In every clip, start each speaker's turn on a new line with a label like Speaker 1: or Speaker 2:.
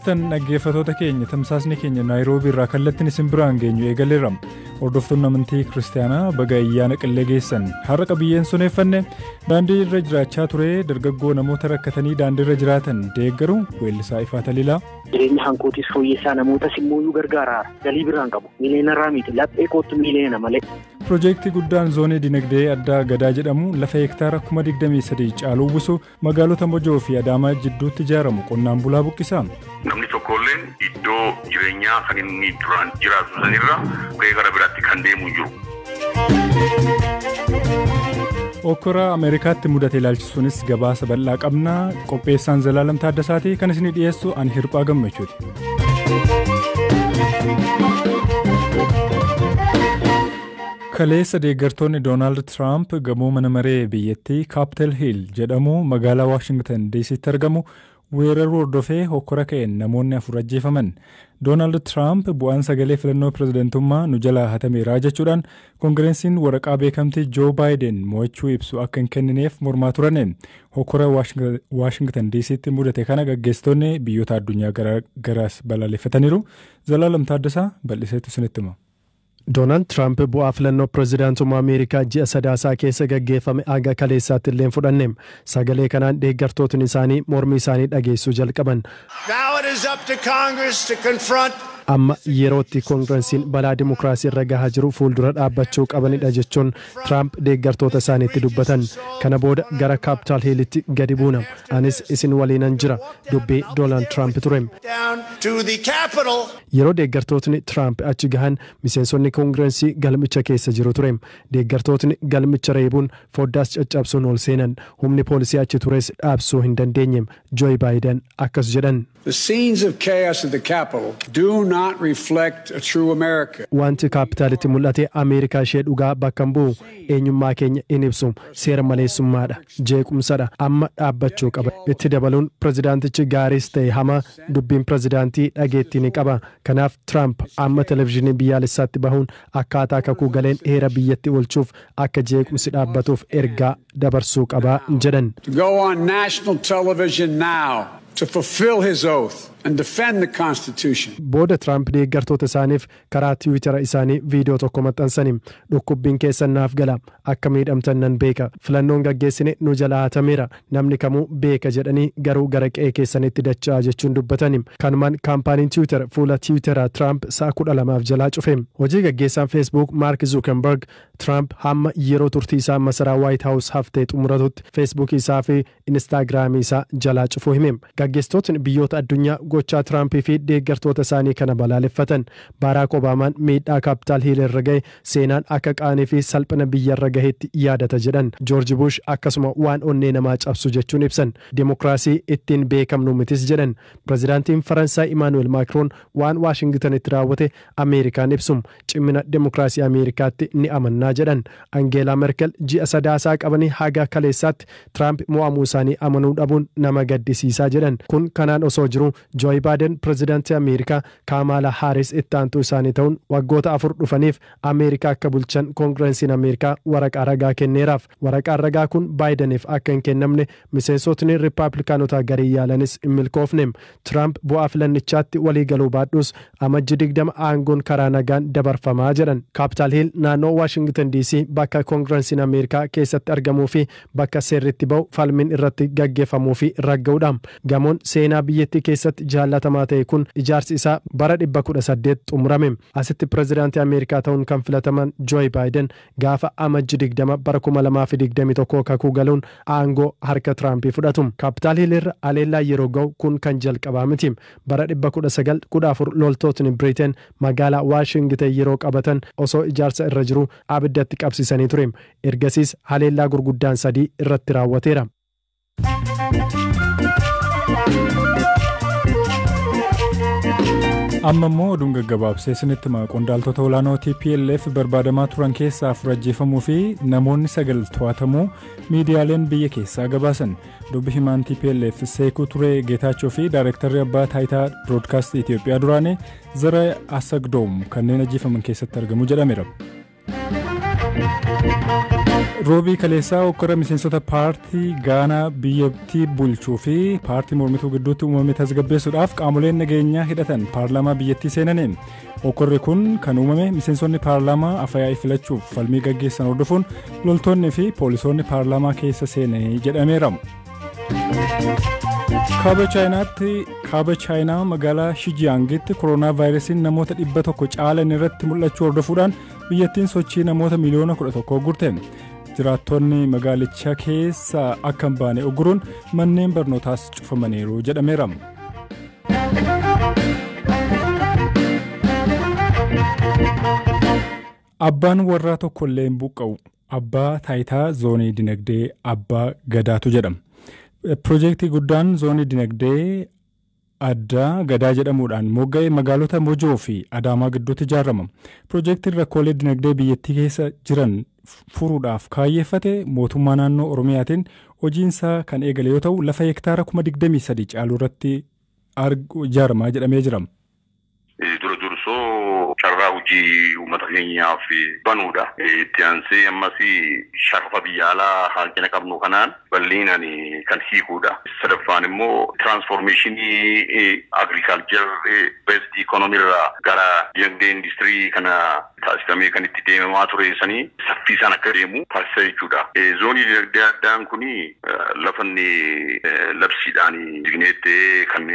Speaker 1: Tan dhaggeeffatoota keenya tamsaasni keenya naayiroobii irraa kallattiin isin biraan geenyu eegaleera. Hordoftoonni amantii kiristaanaa baga ayyaana qillee geessan har'a qabiyyeen suneeffanne daandii irra jiraachaa ture dargaggoo namoota rakkatanii daandii irra jiraatan deeggaru weellisaa ifaa taliilaa. Jireenya hankootis
Speaker 2: fooyyessaa namootas immoo nu gargaara. Galii biraan qabu. Miiliyoonarraa miti. Laphee kootu miiliyoona malee. Piroojeektii guddaan
Speaker 1: zoonii dinagdee addaa gadaa jedhamu lafa hektaara kuma 23 caalu uwwisu Magaalota Mojoo fi Adaamaa jidduutti ijaaramu qonnaan bulaa buqqisa. Namni tokkoolleen
Speaker 3: iddoo jireenyaa kan inni duraan jiraatu sanirra ka'ee gara biraatti kan deemu hin jiru.
Speaker 1: Okkora Ameerikaatti mudate ilaalchisuunis gabaasa bal'aa qabna. Qopheessaan Zalaalam Taaddasaati kan isinii dhiyeessu ani hirphaa gammachuuti. Kaleessa deeggartoonni Doonaald Tiraamp gamoo mana maree biyyattii Capitol Hill jedhamu magaalaa Washington DCtti argamu weeraruu hordofee hokkora ka'een namoonni afur ajjeefaman. Doonaald Tiraamp bu'aan sagalee filannoo pirezidantummaa nu jalaa hatameera jechuudhaan Kongirensiin waraqaa beekamtii Joo Baayiden mo'achuu ibsu akka hin kennineef mormaa turani. Hokkora Washington DCtti mudate kana gaggeessitoonni biyyoota addunyaa garaagaraas balaaleffataniiru. Zalaalam Taaddasaa bal'iseetu isinitti hima. Doonaald Tiraamp
Speaker 4: bu'aa filannoo pirezidaantummaa Ameerikaa ji'a Sadaasaa keessa gaggeeffame haga kaleessaatti illee hin fudhanne. Sagalee kanaan deeggartootni isaanii mormii isaanii dhageessisuu jalqaban. Now it is up to Congress to confront. Amma yeroo itti Kongiransiin balaa dimokiraasii irra gahaa jiru fuuldura dhaabbachuu qabanidha jechuun Tiraamp deeggartoota isaaniitti dubbatan. Kana booda gara Kaapitaal Hiilitti gadi buuna. Anis isin waliinan jira, dubbii Doonaald Tiraamp ture. Down to the Capitol. Yeroo deeggartootni Tiraamp achi gahan miseensonni Kongirensii galmicha keessa jiru ture. Deeggartootni galmicha reebuun, foddaas caccabsuun ol seenan. Humni poolisii achi tures dhaabsuu hin dandeenye. Jooy Baayidan akkas jedhan. The scenes of
Speaker 5: chaos at the Capitol do not reflect a true America. Wanti Kaappitaalitti
Speaker 4: mul'ate Ameerikaa ishee dhugaa bakka hin bu'u. Eenyummaa keenya hin ibsu. Seera maleessummaadha. Jeequmsadha. Amma dhaabbachuu qaba. Itti dabaluun, pirezidaantichi gaariis ta'e hamaa Dubbiin pirezidaantii dhageettii ni qaba. Kanaaf Tiraamp amma televizhinii biyyaalessaatti bahuun akkaataa kakuu galeen heera biyyatti oolchuuf akka jeequmsi dhaabbatuuf ergaa dabarsuu qaba jedhan. to go on
Speaker 5: national television now to fulfill his oath and defend the Constitution. Booda Tiraamp
Speaker 4: deeggartoota isaaniif karaa tiwiitara isaanii viidiyoo tokko maxxansaniin, Dhukkubbiin keessan naaf gala. Akka miidhamtan nan beeka. Filannoon gaggeessine nu jalaa hatameera. Namni kamuu beeka jedhanii garuu gara qe'ee keessaniitti dacha'aa jechuun dubbatani. Kanumaan kaampaaniin Tiwiitar fuula Tiwiitara Tiraamp sa'a kudha lamaaf jalaa cufe. Hojii gaggeessaan Feesbuuk Maark Zuukenbarg, Tiraamp hamma yeroo turtii isaa masaraa Waayit Haawus haftee xumuratutti Feesbuukii isaa fi Inistaagiraamii isaa jalaa cufuu hime. Gaggeessitootni biyyoota addunyaa gochaa Tiraamp fi deeggartoota isaanii kana balaaleffatan. Baaraak Obaamaan miidhaa Kaapitaal Hiil irra gahe seenaan akka qaanii fi salphina biyyarra gaheetti yaadata jedhan. Joorji Buush akkasuma waan onnee namaa cabsu jechuun ibsan. Demokiraasii ittiin beekamnu mitis jedhan. Pirezidaantiin Faransaay Imaanu'eel Maakroon waan Waashingitanitti raawwate Ameerikaan ibsum. Cimmina demokraasii Ameerikaatti ni amannaa jedhan. Angeelaa Merkel ji'a Sadaasaa qabanii haga kaleessaatti Tiraamp mo'amuu isaanii amanuu dhabuun nama gaddisiisaa jedhan. Kun kanaan osoo jiruu Jooy Baaden pirezidantii Ameerikaa, Kaamaalaa Haaris itti aantuu isaanii ta'uun waggoota afur dhufaniif Ameerikaa akka bulchan Kongirensiin Ameerikaa waraqaa ragaa kenneeraaf. Waraqaan ragaa kun Baayidaniif akka hin kennamne miseensotni Rippaaplikaanotaa gariin yaalanis hin milkoofne. Tiraamp bu'aa filannichaatti walii galuu baadhuus Amajji 20 aangoon karaa nagaan dabarfama jedhan. Kaappitaal Hiil naannoo Waashingitan DC bakka Kongiransiin Ameerikaa keessatti argamuu fi bakka seerri itti bahu falmiin irratti gaggeeffamuu fi ragga'udha. Gamoon seenaa biyyattii keessatti jaallatamaa ta'e kun ijaarsi isaa bara 1800 xumurame. Asitti pirezidaantii Ameerikaa ta'uun kan filataman Jooy Baayiden gaafa Amajji 20 bara 2021 kakuu galuun aangoo harka Tiraampii fudhatu. Kaapitaal Hiil irra haleellaan yeroo ga'u kun kan jalqabaa miti. Bara 1914 loltootni Biriteen magaalaa Waashingiten yeroo qabatan osoo ijaarsa irra jiruu abidda itti qabsiisanii ture. Ergasiis haleellaa gurguddaan sadii irratti raawwateera.
Speaker 1: amma immoo oduun gaggabaabsee isinitti hima qondaaltota olaanoo tplf barbaadamaa turan keessaa afur ajjeefamuu fi namoonni sagal to'atamuu miidiyaaleen biyya keessaa gabaasan dubbi himaan tplf seekuu turee geetaachoo fi daayirektarri abbaa taayitaa biroodkaastii itiyoophiyaa duraanii zara asagdoom kanneen ajjeefaman keessatti argamu jedhameera. Roobii kaleessaa hokkora miseensota paartii Gaanaa biyyattii bulchuu fi paartii mormituu gidduutti uumame tasgabbeessuudhaaf qaamoleen nageenyaa hidhatan paarlaamaa biyyattii seenaniin hokkorri kun kan uumame miseensonni paarlaamaa afayaa'ii filachuuf falmii gaggeessan hordofuun loltoonni fi poolisoonni paarlaamaa keessa seenanii jedhameera. Kaaba Chaayinaatti kaaba Chaayinaa magaalaa Shijiyaangitti koronaa vaayirasiin namoota dhibba tokko caalan irratti mul'achuu hordofuudhaan biyyattiin sochii namoota miliyoona kudha tokkoo gurte. Jiraattonni magaalicha keessa akka hin baane uguruun manneen barnootaas cufamaniiru jedhameera. Abbaan warraa tokkollee hin buqqa'u. Abbaa taayitaa zoonii dinagdee abbaa gadaatu jedhama. Piroojeektii guddaan zoonii dinagdee addaa gadaa jedhamuudhaan mogga'e magaalota Mojoo fi Adaamaa gidduutti ijaarama. Piroojeektiin rakkoolee dinagdee biyyattii keessa jiran furuudhaaf kaayyeeffate mootummaa naannoo Oromiyaatiin hojiinsaa kan eegale yoo ta'u lafa hektaara kuma 23 caalu irratti ijaarama jedhamee jira. Dura dursoo
Speaker 3: carraa hojii uummata keenyaaf banuudha. Itti aansee ammas sharafa biyya alaa hanqina qabnu kanaan bal'inaan kan hiikuudha. Sadaffaan immoo tiraansfoormeeshinii agriikaalchar beesdi ikoonomii irraa gara dinagdee industirii kana taasifamee kan itti deemamaa ture sanii saffiisaan akka deemu taasisa jechuudha. Zoonii dinagdee addaan kun lafa inni labsiidhaan jigneetti kan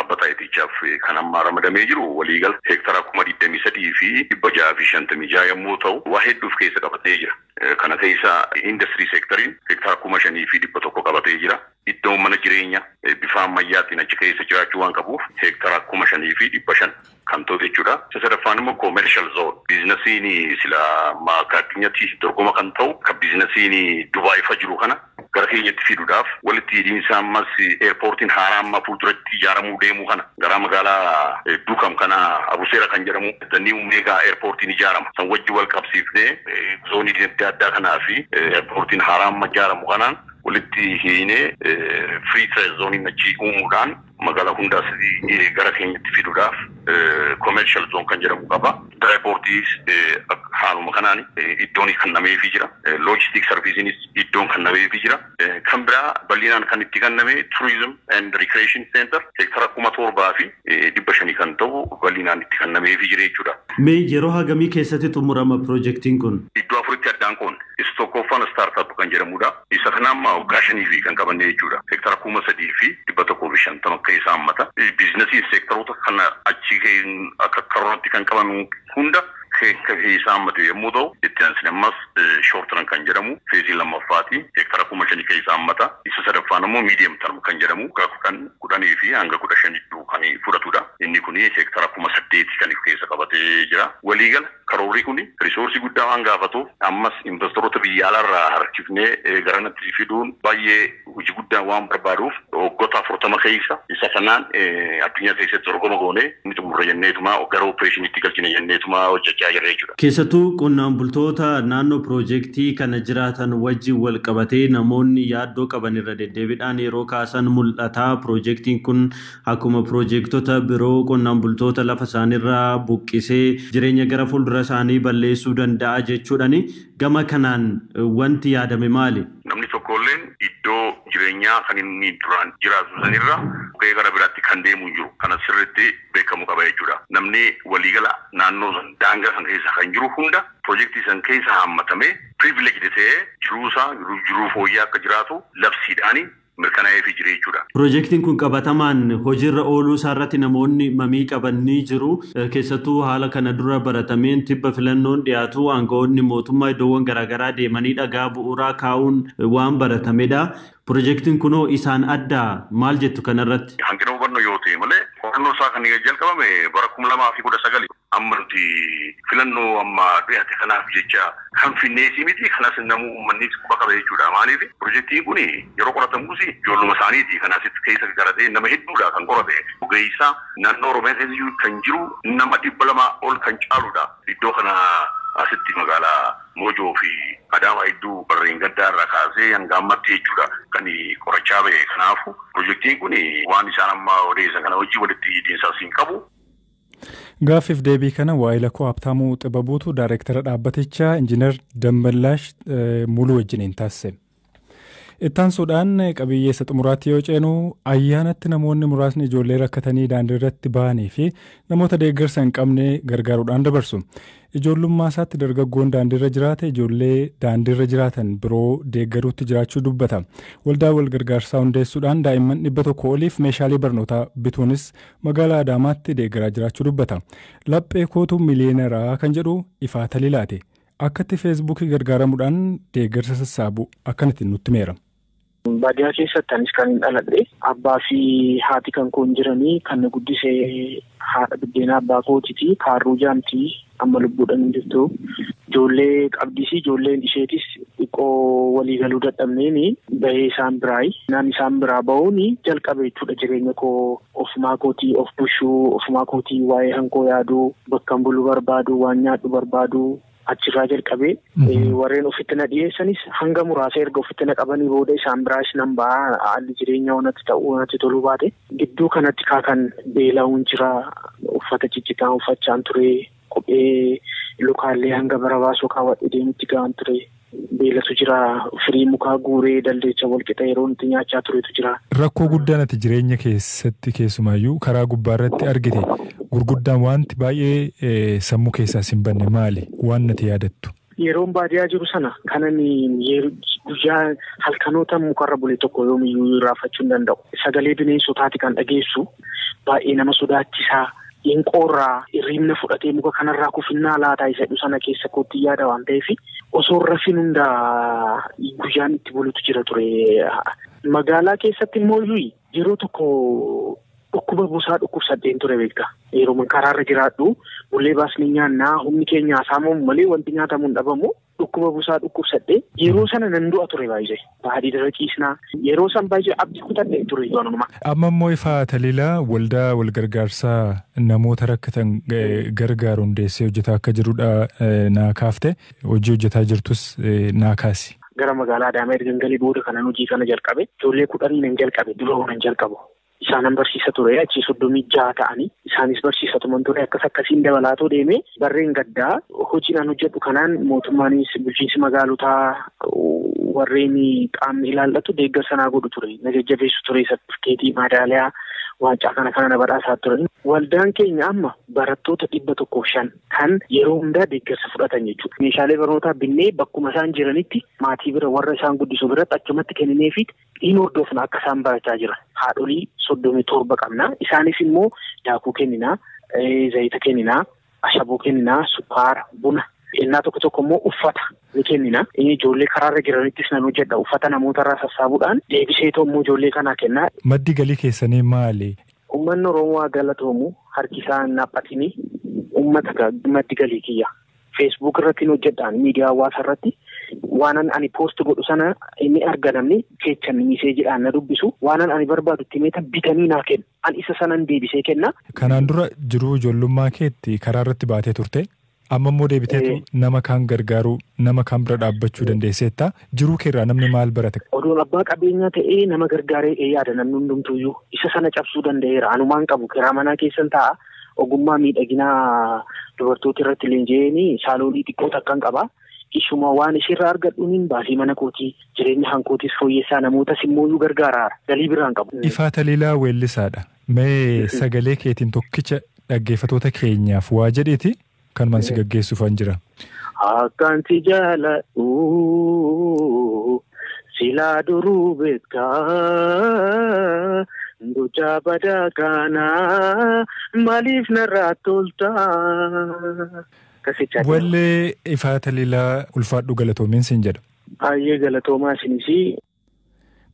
Speaker 3: abba taayitichaaf kan amma ramadamee jiru waliigala heektara kuma 23 fi 656 yommuu ta'u waa hedduu of keessa qabatee jira. Kana keessa industrii seektariin heektara kuma 5 fi 100 qabatee jira. Iddoon mana jireenya bifa ammayyaatiin achi keessa jiraachuu waan qabuuf heektara kuma 5 fi 500. kan ta'u jechuudha. Isa sadaffaan immoo commercial zone biiznasiin sila amma akka addunyatti dorgoma kan ta'u akka biiznasiin Dubai fa jiru kana gara keenyatti fiduudhaaf walitti hidhiinsa ammas airportiin haaraa amma fuulduratti ijaaramuu deemu kana garaa magaalaa Duukam kana Abuseera kan jedhamu the new mega airportiin ijaarama san wajji wal qabsiifnee zoonii dinagdee addaa kanaa fi airportiin haaraa amma ijaaramu kanaan walitti hiinee free trade zooniin achi uumuudhaan Magaalaa hundaas gara keenyatti fiduudhaaf commercial zone kan jedhamu qaba. Dry portis haaluma kanaan iddoon kennameefii jira. Logistic serviceenis iddoon kennameefii jira. Kan biraa bal'inaan kan itti kenname tourism and recreation center heektara 7500 kan ta'u bal'inaan itti kennameefii jira jechuudha. Mee yeroo hagamii
Speaker 6: keessatti xumurama pirojektiin kun? Iddoo afuritti addaan
Speaker 3: qoodne. Isa tokkooffaan startup kan jedhamudha. Isa kana amma waggaa shanii fi kan qabanne jechuudha. Seektara kuma sadii fi dhibba tokkoo fi shantama akka isaa hammata. Biiznasiin seektaroota kana achii ka'een akka karooratti kan qaban hunda akka isaa hammate yommuu ta'u, itti aansine ammas shoortiran kan jedhamu feezii lammaffaati. Seektara kuma shanii kan isaa hammata. Isa sadaffaan ammoo miidiyam tarm kan jedhamu waggaa kudhan, kudhanii fi hanga kudha shan jidduu kan fudhatudha. Inni kun seektara kuma saddeeti kan of keessa qabatee jira. Waliigala. Karoorri kun risoorsii guddaa waan gaafatuuf ammas investoroota biyya alaa irraa harkifnee garanatti fiduun baay'ee hojii guddaa waan barbaaduuf waggoota 40 keessa isa kanaan addunyaa keessatti dorgoma goonee ni xumurra jenneetuma gara oppireeshiniitti galchina jenneetuma hojjechaa jirra jechuudha. Keessattuu qonnaan
Speaker 6: bultoota naannoo piroojektii kana jiraatan wajjin wal qabatee namoonni yaaddoo qaban irra deddeebiidhaan yeroo kaasan mul'ata. Piroojektiin kun Akkuma pirojeektota biroo qonnaan bultoota lafa isaaniirraa buqqisee jireenya gara fuuldura isaanii balleessuu danda'a jechuudhani. Gama kanaan wanti yaadame maali? Namni tokkoolleen
Speaker 3: iddoo jireenyaa kan inni duraan jiraatu sanirra buqqa'ee gara biraatti kan deemu hin jiru. Kana sirriitti beekamu qaba jechuudha. Namni waliigala naannoo san daangaa san keessa kan jiru hunda pirojeektii san keessa haammatamee privileged ta'ee jiruusaa jiruu fooyyaa akka jiraatu labsiidhaani mirkanaa'eefii jira jechuudha. Pirojektiin kun qabatamaan
Speaker 6: hojiirra ooluu isaarratti namoonni mamii qaban ni jiru. Keessattuu haala kana dura baratameen tibba filannoon dhiyaatu aanga'oonni mootummaa iddoowwan garaagaraa deemanii dhagaa bu'uuraa kaa'uun waan baratamedha. Pirojektiin kunoo isaan addaa? Maal jettu kanarratti? Hanqina hubannoo yoo ta'e
Speaker 3: malee qorannoo isaa kan jalqabame bara 2019. Amma nuti filannoo amma dhiyate kanaaf jecha kan finneesii miti kanas namuu ummannis quba qaba jechuudha maaliif pirojektiin kun yeroo qoratamuus ijoolluma isaaniiti kan asitti keessa garatee nama hedduudha kan qorate ogeessa naannoo oromiyaa keessa kan jiru nama dhibba lama ol kan caaluudha iddoo kana asitti magaala moojoo fi adaamaa hedduu barreen gaddaa irraa kaasee hanga ammatti jechuudha kan qorachaa ba'e kanaafu pirojektiin kun waan isaan amma odeessan kana hojii walitti hidhiinsaas hin qabu.
Speaker 1: Gaaffiif deebii kana waa'ila koo Habtaamuu Xibabuutu daayireektara dhaabbatichaa Injiinar Dammallaash Muluu wajjiniin taasise. Ittaansuudhaan qabiyyee isa xumuraatti yoo ceenu ayyaanatti namoonni muraasni ijoollee rakkatanii daandii irratti bahanii fi namoota deeggarsa hin qabne gargaaruudhaan dabarsu. Ijoollummaasaatti dargaggoon daandiirra jiraate ijoollee daandiirra jiraatan biroo deeggaruutti jiraachuu dubbata. Waldaa walgargaarsaa hundeessuudhaan daa'imman 100 oliif meeshaalee barnootaa bituunis magaalaa Adaamaatti deeggaraa jiraachuu dubbata. Laphee kootu miliyeenara kan jedhu Ifaa Taliilaati. Akkatti feesbuukii gargaaramudhaan deeggarsa sassaabu akkanatti nutti himeera. Baadiyaa
Speaker 2: keessatti anis kan hin dhaladhe abbaa fi haati kan koon jiranii kan na guddise haadha biddeenaa abbaa kootiti kaarruu jaamti amma lubbuudhaan hin jirtu. Ijoollee qabdis ijoolleen isheetis xiqqoo walii galuu dadhabneen bahee isaan biraayi. Naan isaan biraa bahuun jalqabe jechuudha jireenya koo ofumaa kootii of bushuu ofumaa kootii waa'ee hankoo yaaduu bakkan bulu barbaadu waan nyaadhu barbaadu Achirraa jalqabee warreen ofitti na dhiyeessanis hanga muraasa erga ofitti na qabanii booda isaan biraas nan ba'a haalli jireenya wanatti ta'uu wanatti toluu baate gidduu kanatti kaa kan beela'uun jira uffata ciccitaa uffachaan ture kophee lukaallee hanga bara baasuu kaawwadhe deemutti ga'an ture Beelatu jira. Firii mukaa guuree daldeecha walqixa yeroon itti nyaachaa turetu jira. Rakkoo guddaan ati
Speaker 1: jireenya keessatti keessumaayyuu karaa gubbaarratti argite gurguddaan waanti baay'ee sammuu keessaas hin banne maali? Waan nati yaadattu. Yeroon baadiyaa jiru
Speaker 2: sana kanan guyyaa halkanoota mukarra bule tokko yoomiyyuu irraanfachuu hin danda'u. Sagalee bineensotaati kan dhageessu baay'ee nama sodaachisaa Hin qoorraa, hirriibna fudhatee muka kanarraa kufinnaa laata isa jedhu sana keessa koottin yaada waan ta'eef osoo hin rafin hunda guyyaan itti bulutu jira ture. Magaalaa keessatti immoo iyyuu yeroo tokko dhukkuba busaa dhukkubsadheen ture beektaa. Yeroo karaarra jiraadhu bullee baasnee nyaannaa humni keenya hasaamamu malee wanti nyaatamu hin dhabamu. Dhukkuba busaa dhukkubsadhee yeroo sana nan du'a ture baay'ee baadiirra ciisnaa yeroo san baay'ee abdii kutadhe ture ijooluma. Amma immoo ifaa
Speaker 1: taliilaa waldaa walgargaarsaa namoota rakkatan gargaaru hundeessee hojjetaa akka jirudha naa kaafte hojii hojjetaa jirtus naa kaasi. Gara magaalaa Adaamaa
Speaker 2: ergan galee booda kanan hojii kana jalqabe ijoollee kudhanii nan jalqabe dura nan jalqabu isaanan barsiisa ture achii soddomii jaha ta'anii isaanis barsiisa tuman ture akkas akkasiin dabalaatoo deemee barreen gaddaa hojiin an hojjedhu kanaan mootummaanis bulchiinsi magaalotaa warreen qaamni ilaallatu deeggarsa naa godhu ture na jajjabeessu ture sartifikeetii maadaaliyaa waancaa kana kana na badhaasaa ture. Waldaan keenya amma barattoota dhibba tokkoof shan kan yeroo hundaa deeggarsa fudhatan jechuudha. Meeshaalee barnootaa binnee bakkuma isaan jiranitti maatii bira warra isaan guddisu biratti achumatti kennineefiit in hordofna akka isaan barachaa jiran. Haadholii soddomii torba qabna. Isaanis immoo daakuu kenninaa, zayita kenninaa, ashaboo kenninaa, sukkaara, buna. Ennaa tokko tokko immoo uffata ni kennina. Ijoollee karaarra jiranittis nan hojjedha. Uffata namoota irraa sassaabuudhaan deebisee immoo ijoollee kanaa kennaa. Maddi galii keessanii
Speaker 1: maali? Uummanni Oromoo haa
Speaker 2: galatoomu harki isaa hin haphatini. Uummata maddi galii kiyya. Facebook irratti hin hojjedhaan miidiyaa hawaasaa irratti waanan ani post godhu sana inni arga namni jechan miseejiidhaan na dubbisu waanan ani barbaadu itti meetan bitanii naa kennu an isa sanan deebisee kenna. Kanaan dura jiruu
Speaker 1: ijoollummaa keetti karaa irratti baatee turte amma immoo deebiteetu nama kaan gargaaruu nama kaan bira dhaabbachuu dandeesseetta jiruu keerraa namni maal barate. Odoon abbaa qabeenyaa
Speaker 2: ta'ee nama gargaaree yaada namni hundumtuuyyuu isa sana cabsuu danda'eera anumaan qabu kiraa manaa keessan ta'a. ogummaa miidhaginaa dubartoota irratti leenji'een saaloonii xiqqoo takkan qaba. Ishuma waan isheerraa argadhuun baasii mana kootii jireenya hankootis fooyyessaa namootas immoo iyyuu gargaara galii biraan qabu. Ifaa Taliilaa
Speaker 1: weellisaadha. Mee sagalee keetiin tokkicha dhaggeeffatoota keenyaaf waa jedhiiti Kanuman si gaggeessuufan jira. Akkan
Speaker 2: si jaaladhu silaa duruu beekta gochaa badaa kana maaliif narraa tolta. Akkasitti
Speaker 1: Wallee Ifaa Taliilaa ulfaadhu galatoomiin siin jedha. Baay'ee galatoomaa
Speaker 2: isinis.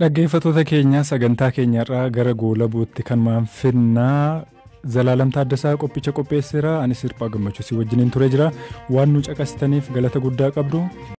Speaker 2: Dhaggeeffatoota
Speaker 1: keenya sagantaa keenya irraa gara goolabuutti kan maan finnaa Zalaalam Taaddasaa qophicha qopheesseera anis hirphaa gammachuu si wajjiniin ture jira waan nu caqasitaniif galata guddaa qabdu.